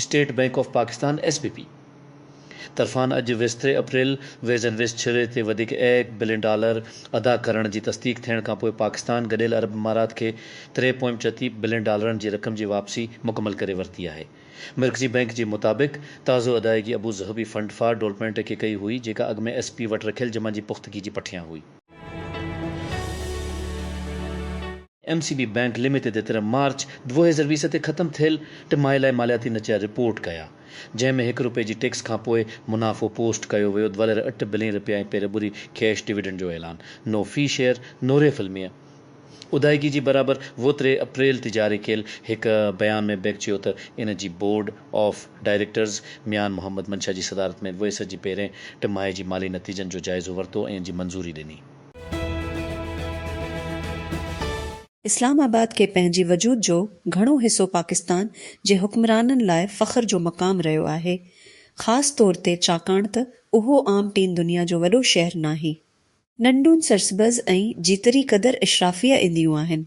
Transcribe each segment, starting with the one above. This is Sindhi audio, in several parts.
State Bank of Pakistan, S B P, طرفان اڄ ويستري اپريل ويز اينڊ ويز ڇري تي وڌيڪ ايڪ بلين ڊالر ادا ڪرڻ جي تصديق ٿيڻ کانپوء پاڪستان گڏيل عرب امارات کي تري پوائنٽ چتي بلين ڊالرن جي رقم جي واپسي مڪمل ڪري ورتي آهي. مرڪزي بئنڪ جي مطابق تازو ادائيگي ابوظهبي فنڊ فار ڊولپمينٽ کي ڪئي هئي جيڪا اڳ ۾ ايس پي وٽ رکيل جمعن جي پختگي جي پٺيان هئي. M C B bank limited جي طرف مارچ ڏهه هزار ويهه تي ختم ٿيل ٽمائي لاء مالياتي نتيجا رپورٽ ڪيا جنهن ۾ هڪ رپئي جي ٽيڪس کانپوء منافعو پوسٽ ڪيو ويو ورهير اٺ بلين رپيا ۽ پيربري ڪيش ڊويڊنڊ جو اعلان نو في شيئر نوريف علميه ادائگي جي برابر ووتري اپريل تي جاري ڪيل هڪ بيان ۾ بئنڪ چيو ته ان جي board of directors Mian Muhammad Mansha جي صدارت ۾ ويسر جي پهرين ٽماهي جي مالي نتيجن جو جائزو ورتو ۽ ان جي منظوري ڏني. اسلام آباد کي پنهنجي وجود جو گهڻو حصو پاڪستان جي حڪمرانن لاء فخر جو مقام رهيو آهي، خاص طور تي ڇاڪاڻ ته اهو عام ٽين دنيا جو وڏو شهر ناهي. ننڍون سرسبز ۽ جيتري قدر اشرافيه اينديون آهن.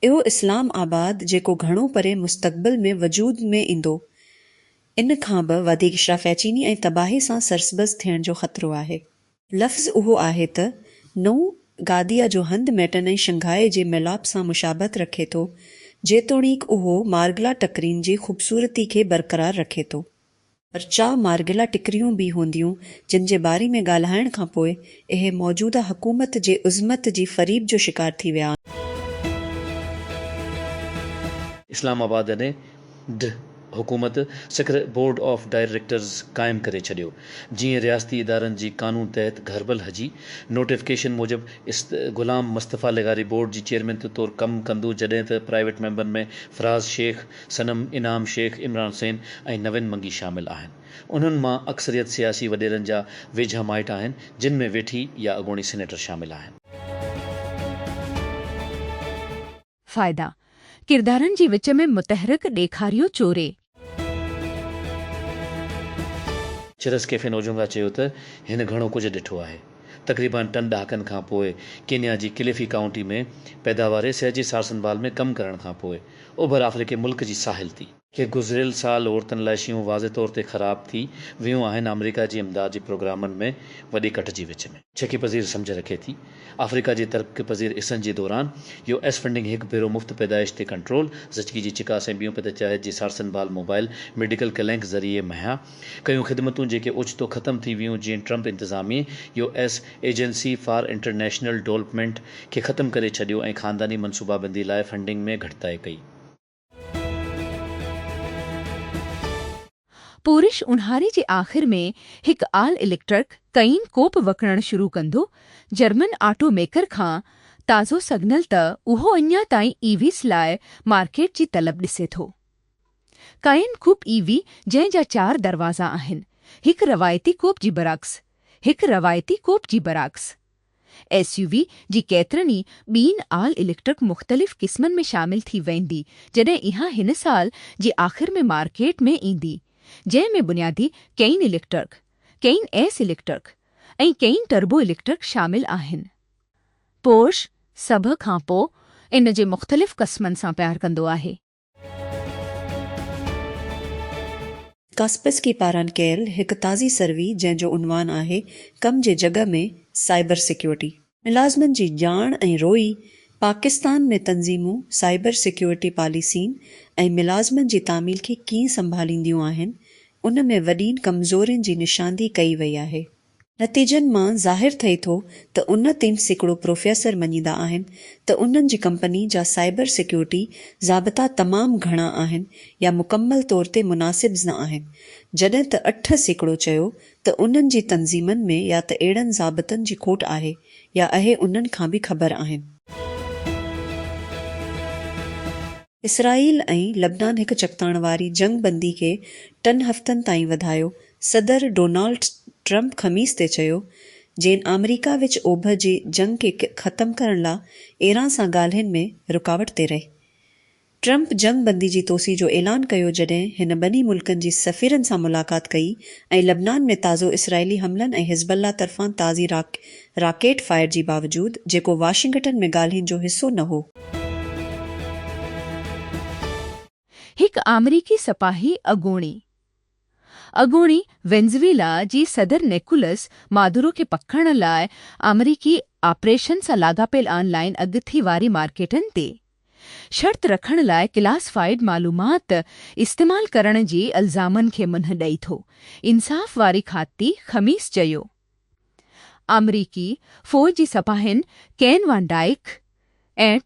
اهو اسلام آباد جيڪو گهڻو پري مستقبل ۾ وجود ۾ ايندو ان کان به وڌيڪ اشرافياچيني ۽ تباهي سان سرسبز ٿيڻ جو خطرو آهي. لفظ اهو آهي ته نئون گاديا جو هنڌ ميٽن ۽ شنگهائي جي ميلاپ سان مشابهت رکي ٿو جيتوڻيڪ اهو مارگلا ٽڪرين جي خوبصورتي کي برقرار رکي ٿو. پر چا مارگلا ٽڪريون به هونديون جن جي باري ۾ ڳالهائڻ کان پوء اهي موجوده حڪومت جي عظمت جي فريب جو شڪار ٿي ويا آهن. اسلام آباد اين اي ڊ حڪومت سکر بورڊ آف ڊائريڪٽرز قائم ڪري ڇڏيو جيئن رياستي ادارن جي قانون تحت گهربل هجي نوٽيفڪيشن موجب غلام مصطفيٰ لغاري بورڊ جي چيئرمين طور ڪم ڪندو جڏهن ته پرائيويٽ ميمبرن ۾ فراز شيخ صنم انعام شيخ، عمران حسين ۽ نوين منگي شامل آهن. انهن مان اڪثريت سياسي وڏيرن جا ويجها مائٽ آهن، جن ۾ ويٺي يا اڳوڻي سينيٽر شامل آهن. فائدا، ڪردارن جي وچ ۾ متحرڪ ڏيکاريو چوري. چرس ڪيفين اوجونگا چيو ته هن گهڻو ڪجهه ڏٺو آهي. تقريبان ٽن ڏهاڪن کان پوء ڪينيا جي ڪليفي ڪائونٽي ۾ پيداواري صحت جي سارسنڀال ۾ ڪم ڪرڻ کان پوء، اوڀر آفريڪي ملڪ جي ساحل تي. کي گذريل سال عورتن لاء شيون واضح طور تي خراب ٿي ويون آهن آمريڪا جي امداد جي پروگرامن ۾ وڏي ڪٽ جي وچ ۾. ڇڪي پذير سمجهه رکي ٿي آفريڪا جي ترقي پذير عرصن جي دوران يو ايس فنڊنگ هڪ ڀيرو مفت پيدائش تي ڪنٽرول زچگي جي چڪاس ۽ ٻيون پتچاهت جي سارسنڀال موبائل ميڊيڪل ڪلينڪ ذريعي مهيا ڪيون خدمتون جيڪي اوچتو ختم ٿي ويون جيئن ٽرمپ انتظاميي U S agency for international development کي ختم ڪري ڇڏيو ۽ خانداني منصوبابندي لاء فنڊنگ ۾ گهٽتائي ڪئي. پورش اونهاري جي آخر ۾ هڪ آل اليڪٽرڪ ڪئين ڪوپ وڪڻڻ شروع ڪندو، جرمن آٽو ميڪر کان تازو سگنل ته اهو اڃا تائين اي ويز لاء مارڪيٽ جي طلب ڏسي ٿو. ڪائين ڪوپ ئي وي جنهن جا چار دروازا آهن، هڪ روايتي ڪوپ جي برعڪس، هڪ روايتي ڪوپ جي برعڪس. ايس يو وي جي ڪيترن ئي ٻين آل اليڪٽرڪ مختلف قسمن ۾ شامل ٿي ويندي جڏهن اها هن سال جي آخر ۾ مارڪيٽ ۾ ايندي جنهن ۾ بنيادي ڪئين اليڪٽرڪ، ڪئين ايس اليڪٽرڪ ۽ ڪئين ٽربو اليڪٽرڪ شامل آهن. پورش سڀ کان پوء ان جي مختلف قسمن سان پيار ڪندو آهي. ڪاسپرسڪي پاران ڪيل هڪ تازي سروي جنهن جو عنوان آهي ڪم جي جڳهه ۾ سائبر سيڪيورٽي، ملازمن جي ڄاڻ ۽ روئي، پاڪستان ۾ تنظيمون سائبر سيڪيورٽي پاليسين ۽ ملازمن جي تعميل کي ڪيئن سنڀالينديون آهن، ان ۾ وڏين ڪمزورين جي نشاندهي ڪئي وئي آهي. نتيجن مان ظاهر ٿئي ٿو ته ان تين سيڪڙو پروفيسر مڃيندا آهن ته انهن جي ڪمپني جا سائبر سيڪيورٽي ضابطا تمام گهڻا آهن يا مڪمل طور تي مناسبز نه آهن جڏهن ته اٺ سيڪڙو چيو ته انهن جي تنظيمن ۾ يا ته اهڙن ضابطن جي کوٽ آهي يا اهي انهن کان به خبر آهن. اسرائيل ۽ لبنان هڪ چڪتاڻ واري جنگ بندي کي ٽن هفتن تائين وڌايو صدر ڊونالڊ ٽرمپ خميس تي چيو جين آمريڪا وچ اوڀر جي جنگ کي ختم ڪرڻ لا ايران سان ڳالهين ۾ رڪاوٽ تي رهي. ٽرمپ جنگ بندي جي توسيع جو اعلان ڪيو جڏهن هن ٻنهي ملڪن جي سفيرن سان ملاقات ڪئي ۽ لبنان ۾ تازو اسرائيلي حملن ۽ حزب الله طرفان تازي راڪيٽ فائر جي باوجود جيڪو واشنگٽن ۾ ڳالهين جو حصو نه هو. هڪ آمريڪي سپاهي اڳوڻي اڳوڻي وينزويلا جي صدر نيڪولس مادورو کي پڪڙڻ لاء آمريڪي آپريشن سان لاڳاپيل آن لائين اڳٿي واري مارڪيٽن تي شرط رکڻ لاء ڪلاس فائيڊ معلومات استعمال ڪرڻ جي الزامن کي منهن ڏئي ٿو انصاف واري کاتي خميس چيو ته آمريڪي فوج جي سپاهين ڪين وان ڊائيڪ ۽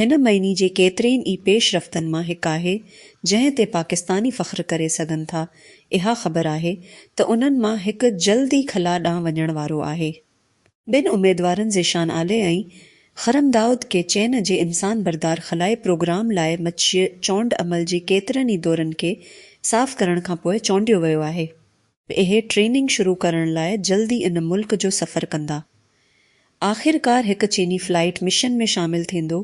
هن معني جي ڪيترين ئي پيش رفتن مان هڪ آهي، جنهن تي پاڪستاني فخر ڪري سگهن ٿا. اها خبر آهي ته انهن مان هڪ جلد ئي خلا ڏانهن وڃڻ وارو آهي. ٻن اميدوارن ذيشان عالي ۽ خرم دائود کي چين جي انسان بردار خلائي پروگرام لاء مچيء چونڊ عمل جي ڪيترن ئي دورن کي صاف ڪرڻ کانپوء چونڊيو ويو آهي. اهي ٽريننگ شروع ڪرڻ لاء جلد ئي ان ملڪ جو سفر ڪندا. آخرڪار هڪ چيني فلائيٽ مشن ۾ شامل ٿيندو،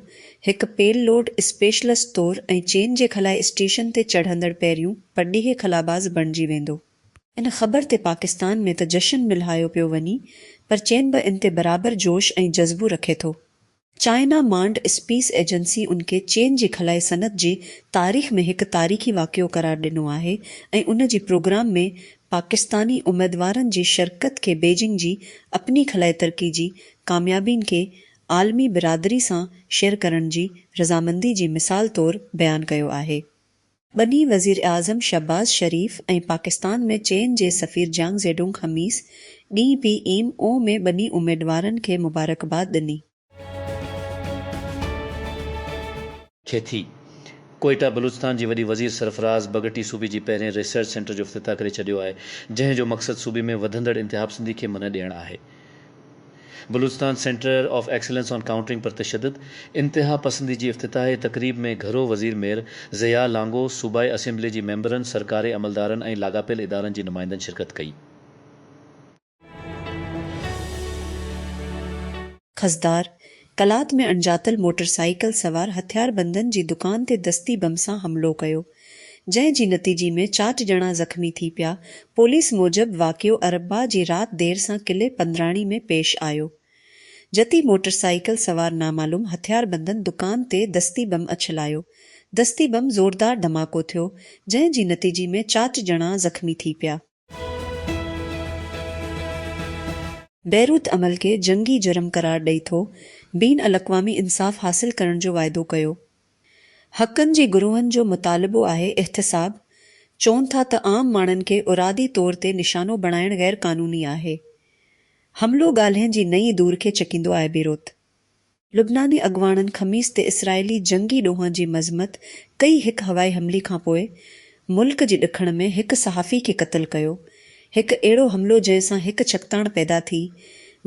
هڪ پيل لوڊ اسپيشلسٽ طور ۽ چين جي خلائي اسٽيشن تي چڙهندڙ پهريون پرڏيهي خلاباز بڻجي ويندو. ان خبر تي پاڪستان ۾ ته جشن ملهايو پيو وڃي پر چين به ان تي برابر جوش ۽ جذبو رکي ٿو. چائنا مانڊ اسپيس ايجنسي ان کي چين جي خلائي صنعت جي تاريخ ۾ هڪ تاريخي واقعو قرار ڏنو آهي ۽ ان جي پروگرام ۾ پاڪستاني اميدوارن جي شرڪت کي بيجنگ جي اپني خلائي ترقي جي ڪاميابين کي عالمي برادري سان شيئر ڪرڻ جي رضامندي جي مثال طور بيان ڪيو آهي. ٻنهي وزيراعظم شهباز شريف ۽ پاڪستان ۾ چين جي سفير جانگ زيڊونگ خميس ڏينهن پي ايم او ۾ ٻنهي اميدوارن کي مبارڪباد ڏني. ٿئي ٿي. ڪوئيٽا بلوچستان جي وڏي وزير سرفراز بگٽي صوبي جي پهرين ريسرچ سينٽر جو افتتاح ڪري ڇڏيو آهي، جنهن جو مقصد صوبي ۾ وڌندڙ انتهاپسندي کي منهن ڏيڻ آهي. Balochistan centre of excellence on countering پر تشدد، انتها پسندي جي افتتاحي تقريب ۾ گهرو وزير مير ضياء لانگو، صوبائي اسيمبلي جي ميمبرن، سرڪاري عملدارن ۽ لاڳاپيل ادارن جي نمائندن شرڪت ڪئي. خضدار، قلات ۾ اڻڄاتل موٽرسائيڪل سوار هٿياربندن جي دڪان تي دستي بم سان حملو ڪيو، جنهن جي نتيجي ۾ چاٽ ڄڻا زخمي ٿي پيا، پوليس موجب واقعو اربع جي رات دير سان قلعي پندراڻي ۾ پيش آيو، جتي موٽرسائيڪل سوار نامعلوم هٿياربندن دڪان تي دستي بم اڇلايو، دستي بم زوردار ڌماڪو ٿيو، جنهن جي نتيجي ۾ چاٽ ڄڻا زخمي ٿي پيا. بيروت عمل کي جنگي جرم قرار ڏئي ٿو، بين الاقوامي انصاف حاصل ڪرڻ جو واعدو ڪيو، حقن جي گروهن جو مطالبو آهي احتساب، چون ٿا ته عام ماڻهن کي ارادي طور تي نشانو بڻائڻ غيرقانوني آهي، حملو ڳالهين جي نئين دور کي ڇڪيندو آهي بيروت لبناني اڳواڻن خميس تي اسرائيلي جنگي ڏوهن جي مذمت ڪئي هڪ هوائي حملي کانپوء ملڪ جي ڏکڻ ۾ هڪ صحافي کي قتل ڪيو هڪ اهڙو حملو جنهن سان هڪ ڇڪتاڻ پيدا ٿي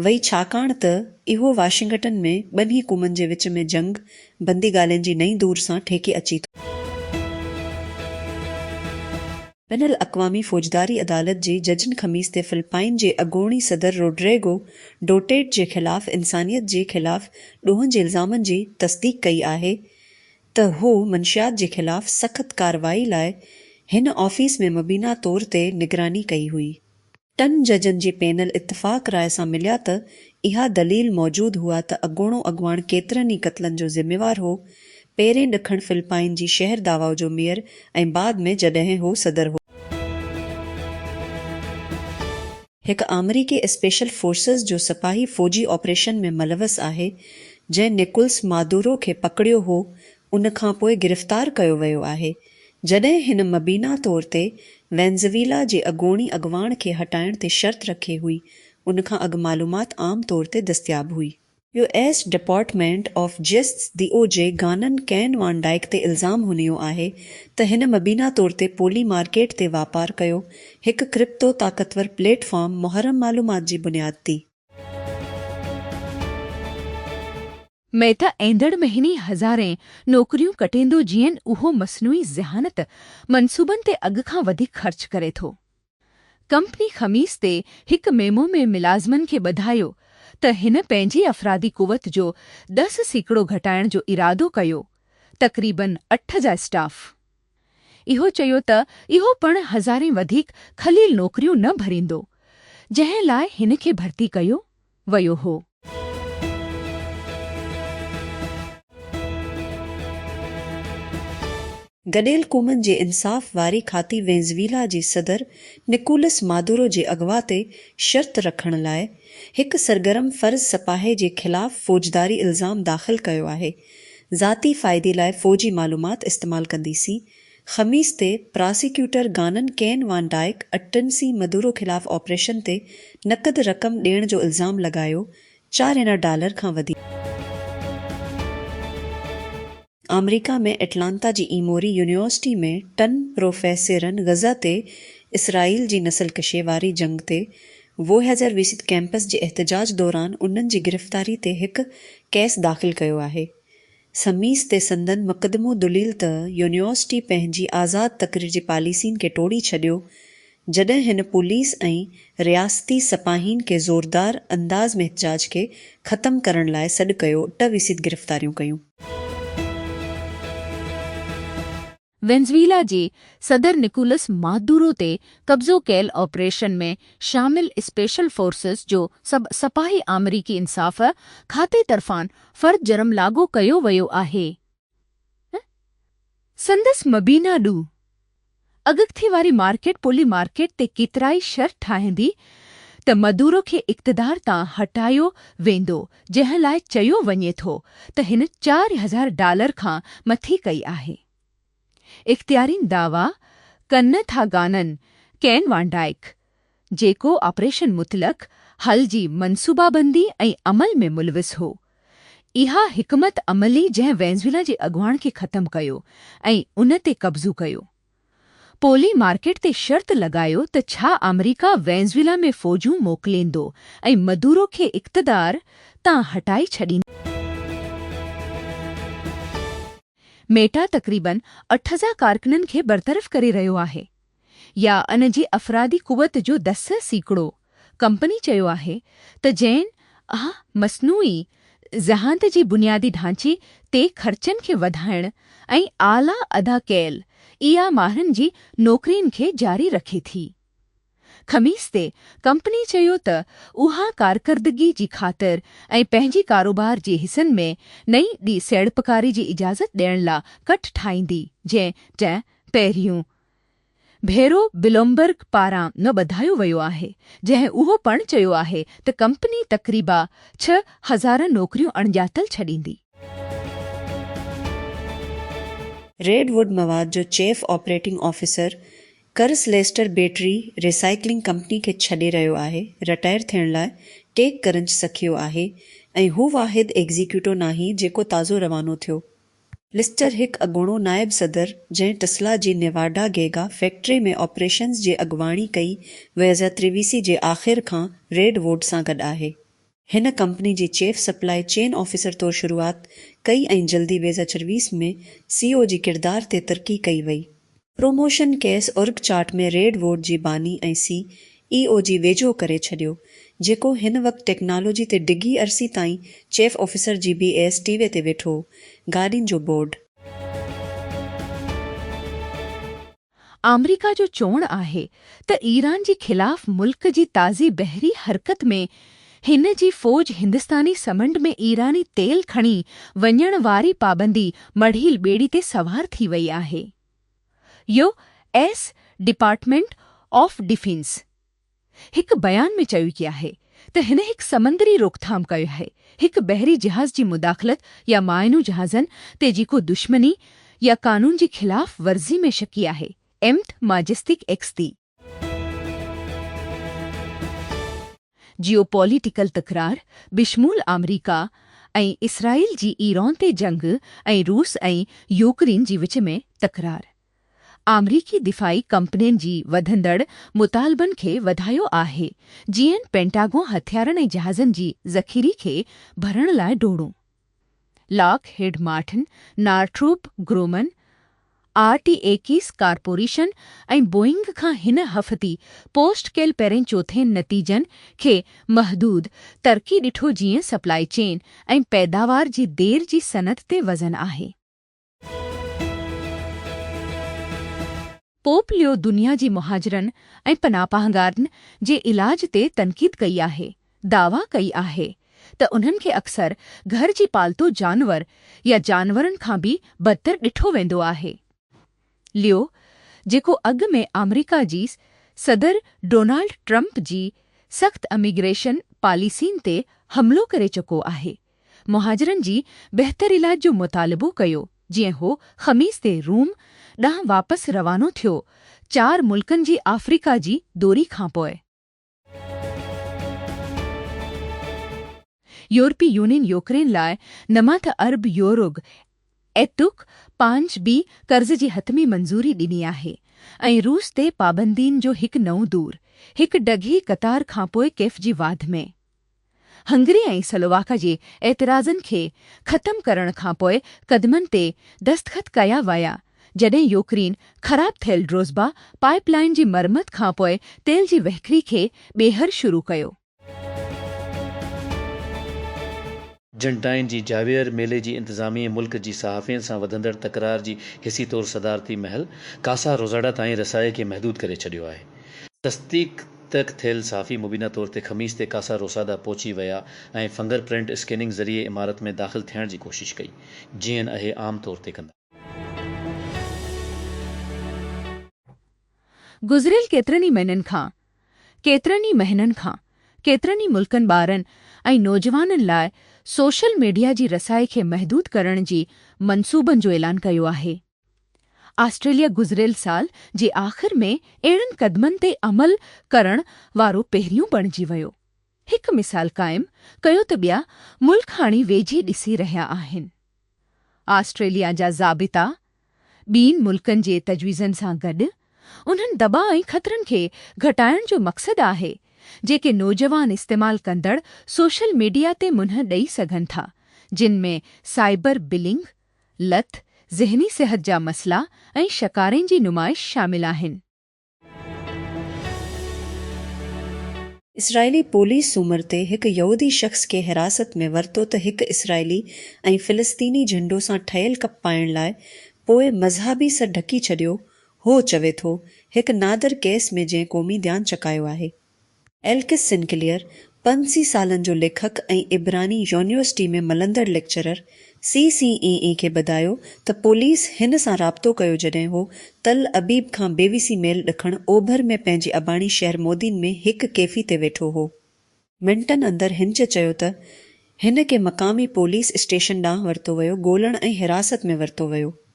وئي ڇاڪاڻ ته اهو واشنگٽن ۾ ٻنهي قومن جي وچ ۾ جنگ بندي ڳالهين جي نئين دور سان ٺيڪي اچي ٿو. بين الاقوامي فوجداري عدالت جي ججن خميس تي فلپائن جي اڳوڻي صدر روڊريگو ڊوٽيرٽ جي خلاف انسانيت جي خلاف ڏوهن جي الزامن جي تصديق ڪئي آهي ته هو منشيات جي خلاف سخت ڪارروائي لاء هن آفيس ۾ مبينا طور تي نگراني ڪئي هئي. ٽن ججن جي پينل اتفاق راء سان مليا ته اها دليل موجود هئا ته اڳوڻو اڳواڻ ڪيترن ئي قتلن جو ذميوار هو، پهرين ڏکڻ فلپائن جي شهر داواو جو ميئر ۽ بعد ۾ جڏهن هو صدر هو. هڪ آمريڪي اسپيشل فورسز جو سپاهي فوجي آپريشن ۾ ملوث آهي، جنهن نڪولس مادورو کي پڪڙيو هو، ان کان پوء گرفتار ڪيو ويو آهي، جڏهن هن مبينا طور تي وينزويلا جي اڳوڻي اڳواڻ کي هٽائڻ تي شرط رکي هئي، ان کان اڳ معلومات عام طور تي دستياب هئي. U S department of justice, D O J, گانن ڪين وان ڊائيڪ تي الزام هنيو آهي ته هن مبينا طور تي پولي مارڪيٽ تي واپار ڪيو، هڪ ڪرپتو طاقتور پليٽ فارم محرم معلومات جي بنياد تي. ميت ايندڙ مهيني هزارين نوڪريون ڪٽيندو جيئن اهو مصنوعي ذهانت منصوبن تي اڳ کان وڌيڪ خرچ ڪري ٿو. ڪمپني خميس تي هڪ ميمو ۾ ملازمن کي ٻڌايو ته هن پنهنجي افرادي قوت جو دس سيڪڙو گهٽائڻ جو ارادو ڪيو، تقريبن اٺ جا اسٽاف. اهو چيو ته اهو پڻ هزارين وڌيڪ خليل نوڪريون نه ڀريندو، جنهن لاء هن کي ڀرتي ڪيو. ويو هو. گڏيل قومن جي انصاف واري کاتي وينزويلا جي صدر نڪولس مادورو جي اغوا تي شرط رکڻ لاء هڪ سرگرم فرض سپاهي جي خلاف فوجداري الزام داخل ڪيو آهي، ذاتي فائدي لاء فوجي معلومات استعمال ڪندي سين خميس تي پراسيڪيوٽر گانن ڪين وان ڊائيڪ اٽنسي مدورو خلاف آپريشن تي نقد رقم ڏيڻ جو الزام لڳايو، چار هنا ڊالر کان وڌيڪ. آمريڪا ۾ اٽلانتا جي ايموري يونيورسٽي ۾ ٽن پروفيسرن غزه تي اسرائيل جي نسل ڪشي واري جنگ تي ووهيجر ويسيت ڪيمپس جي احتجاج دوران انهن جي گرفتاري تي هڪ ڪيس داخل ڪيو آهي. سميس تي سندن مقدمو دليل ته يونيورسٽي پنهنجي آزاد تقرير جي پاليسين کي ٽوڙي ڇڏيو جڏهن هن پوليس ۽ رياستي سپاهين کي زوردار انداز ۾ احتجاج کي ختم ڪرڻ لاء سڏ ڪيو ٽه ويسيد گرفتاريون ڪيون. وينزويلا جي صدر نڪولس مادورو تي قبضو ڪيل آپريشن ۾ شامل اسپيشل فورسز جو سڀ سپاهي آمريڪي انصاف کاتي طرفان فرد جرم لاڳو ڪيو ويو آهي ۽ سندس مبينا ڏو اڳڪٿي واري مارڪيٽ پولي مارڪيٽ تي ڪيترائي شر ٺاهيندي ته مدورو کي اقتدار تان هٽايو ويندو جنهن لاء چيو وڃي ٿو ته هن چار هزار ڊالر کان مٿي ڪئي آهي. اختيارين دعويٰ ڪن ٿا گانن ڪين وان ڊائڪ، جيڪو آپريشن مطلق حل جي منصوبابندي ۽ عمل ۾ ملوث هو، اها حڪمت عملي جنهن وينزويلا جي اڳواڻ کي ختم ڪيو ۽ ان تي قبضو ڪيو. پولي مارڪيٽ تي شرط لڳايو ته ڇا آمريڪا وينزويلا ۾ فوجون موڪليندو ۽ مدورو کي اقتدار تان هٽائي ڇڏيندو. ميٽا تقريباً اٺ هزار ڪارڪنن کي برطرف ڪري رهيو آهي يا ان جي افرادي قوت جو دس سيڪڙو. ڪمپني چيو آهي ته جين اها مصنوعي ذهانت جي بنيادي ڍانچي تي خرچن کي وڌائڻ ۽ اعليٰ ادا ڪيل اي آء ماهرن جي نوڪرين کي جاري رکي ٿي. خميس تي ڪمپني چيو ته اها ڪارڪردگي جي خاطر ۽ پنهنجي ڪاروبار جي حصن ۾ نئين ڏي سيڙپڪاري جي اجازت ڏيڻ لا ڪٽ ٺاهيندي جنهن ٽه پهريون ڀيرو بلومبرگ پاران نه ٻڌايو ويو آهي جنهن اهو پڻ چيو آهي ته ڪمپني تقريبا ڇهه هزار نوڪريون اڻڄاتل ڇڏيندي. ريڊ ووڊ مواد جو chief operating officer Chris Lester battery recycling company کي ڇڏي رهيو آهي، رٽائر ٿيڻ لاء ٽيڪ ڪرنچ سکيو آهي ۽ هو واحد ايگزيڪيوٽو ناهي جيڪو تازو روانو ٿيو. لسٽر هڪ اڳوڻو نائب صدر جنهن ٽسلا جي نيواڊا گيگا فيڪٽري ۾ آپريشنز جي اڳواڻي ڪئي ويزا تريويسي جي آخر کان ريڊ ووڊ سان گڏ آهي. هن ڪمپني جي چيف سپلائي چين آفيسر طور شروعات ڪئي ۽ جلدي ويزا چرويس ۾ سي او جي ڪردار تي ترقي ڪئي وئي. پروموشن کيس اورگ چارٽ ۾ ريڊ ووٽ جي باني ۽ سي اي او جي ويجهو ڪري ڇڏيو، جيڪو هن وقت ٽيڪنالاجي تي ڊگهي عرصي تائين چيف آفيسر جي بي ايس ٽي وي تي ويٺو هو. گاڏين جو بورڊ. آمريڪا جو چوڻ آهي ته ايران جي خلاف ملڪ جي تازي بحري حرڪت ۾ هن جي فوج هندستاني سمنڊ ۾ ايراني تيل کڻي وڃڻ واري پابندي مڙهيل ٻيڙي تي سوار ٿي وئي آهي. U. S department of defence هڪ بيان ۾ چيو ڪي آهي ته هن هڪ سمندري روڪٿام ڪئي آهي، هڪ بحري جهاز جي مداخلت يا مائنو جهازن تي جيڪو دشمني يا قانون جي خلاف ورزي ۾ شڪي آهي، ايمت ماجستيڪ ايڪس تي. جيو پوليٽيڪل تڪرار بشمول آمريڪا ۽ اسرائيل جي ايران تي جنگ ۽ روس ۽ يوڪرين جي وچ ۾ تڪرار آمريڪي دفاعي ڪمپنين جي وڌندڙ مطالبن کي وڌايو آهي جيئن پينٽاگون هٿيارن ۽ جهازن جي ذخيري کي ڀرڻ لاء ڊوڙون Lockheed Martin, Northrop Grumman, R T X corporation ۽ Boeing کان هن هفتي پوسٽ ڪيل پهرين چوٿين نتيجن کي محدود ترقي ڏٺو جيئن سپلائي چين ۽ پيداوار جي دير جي صنعت تي وزن آهي. پوپ ليو دنيا جي مهاجرن ۽ پناهپاهگارن جي علاج تي تنقيد ڪئي آهي، دعويٰ ڪئي آهي ته انهن کي اڪثر گهر جي پالتو جانور يا جانورن کان به بدتر ڏٺو ويندو آهي. ليو، جيڪو اڳ ۾ آمريڪا جي صدر ڊونالڊ ٽرمپ جي سخت اميگريشن پاليسين تي حملو ڪري چڪو آهي، مهاجرن جي بهتر علاج جو مطالبو ڪيو جيئن هو خميس تي روم ڏانهن واپس روانو ٿيو چار ملڪن جي آفريڪا جي دوري کانپوء. يورپي يونين يوڪرين لاء نمات ارب يوروگ ايتوڪ پانچ بي قرض جي حتمي منظوري ڏني آهي ۽ روس تي پابندين جو هڪ نئون دور هڪ ڊگهي قطار کانپوء ڪيف جي واڌ ۾. هنگري ۽ سلوواڪا جي اعتراضن کي ختم ڪرڻ کان پوء قدمن تي دستخط ڪيا ويا، جڏهن يوڪرين خراب ٿيل ڊروزبا پائيپ لائين جي مرمت کان پوء تيل جي وهڪري کي ٻيهر شروع ڪيو. جنٽائن جي جاويئر ميلي جي انتظاميي ملڪ جي صحافين سان وڌندڙ تڪرار جي حصي طور صدارتي محل ڪاسا روزاڊا تائين رسائي کي محدود ڪري ڇڏيو آهي. تصديق ترڪ ٿيل صحافي مبينا طور تي خميس تي ڪاسا روسادا پهچي ويا ۽ فنگر پرنٽ اسڪيننگ ذريعي عمارت ۾ داخل ٿيڻ جي ڪوشش ڪئي جيئن اهي عام طور تي ڪندا. گذريل ڪيترن ئي مهنن کان، ڪيترن ئي مهنن کان، ڪيترن ئي ملڪن ٻارن ۽ نوجوانن لاء سوشل ميڊيا جي رسائي کي محدود ڪرڻ جي منصوبن جو اعلان ڪيو آهي. آسٽريليا گذريل سال جي آخر ۾ اهڙن قدمن تي عمل ڪرڻ وارو پهريون بڻجي ويو. هڪ مثال قائم ڪيو ته ٻيا ملڪ هاڻي ويجهي ڏسي رهيا آهن. آسٽريليا جا ضابطا ٻين ملڪن جي تجويزن سان گڏ انهن دٻاء ۽ خطرن کي گهٽائڻ جو مقصد آهي جيڪي نوجوان استعمال ڪندڙ سوشل ميڊيا تي منهن ڏئي سگهن ٿا جن ۾ سائبر بلنگ، لت، ذهني صحت جا مسئلا ۽ شڪارين جي نمائش شامل آهن. اسرائيلي پوليس سومر تي هڪ يهودي شخص کي حراست ۾ ورتو ته هڪ اسرائيلي ۽ فلسطيني جهنڊو سان ٺهيل ڪپ پائڻ لاء پوء مذهبي سر ڍڪي ڇڏيو هو چوي ٿو هڪ نادر ڪيس ۾ جنهن قومي ڌيان چڪايو آهي. ايلڪس سنڪليئر، پنج سي سالن جو ليکڪ ۽ عبراني يونيورسٽي ۾ ملندڙ ليڪچرر، سي سي اي اي کي ٻڌايو ته پوليس هن سان رابطو ڪيو جڏهن هو تل ابيب کان بيوسي ميل ڏکڻ اوڀر ۾ پنهنجي اباڻي شهر مودين ۾ هڪ ڪيفي تي ويٺو هو. منٽن اندر هنچ چيو ته هن کي مقامي پوليس اسٽيشن ڏانهن ورتو ويو، ڳولڻ ۽ حراست ۾ ورتو ويو.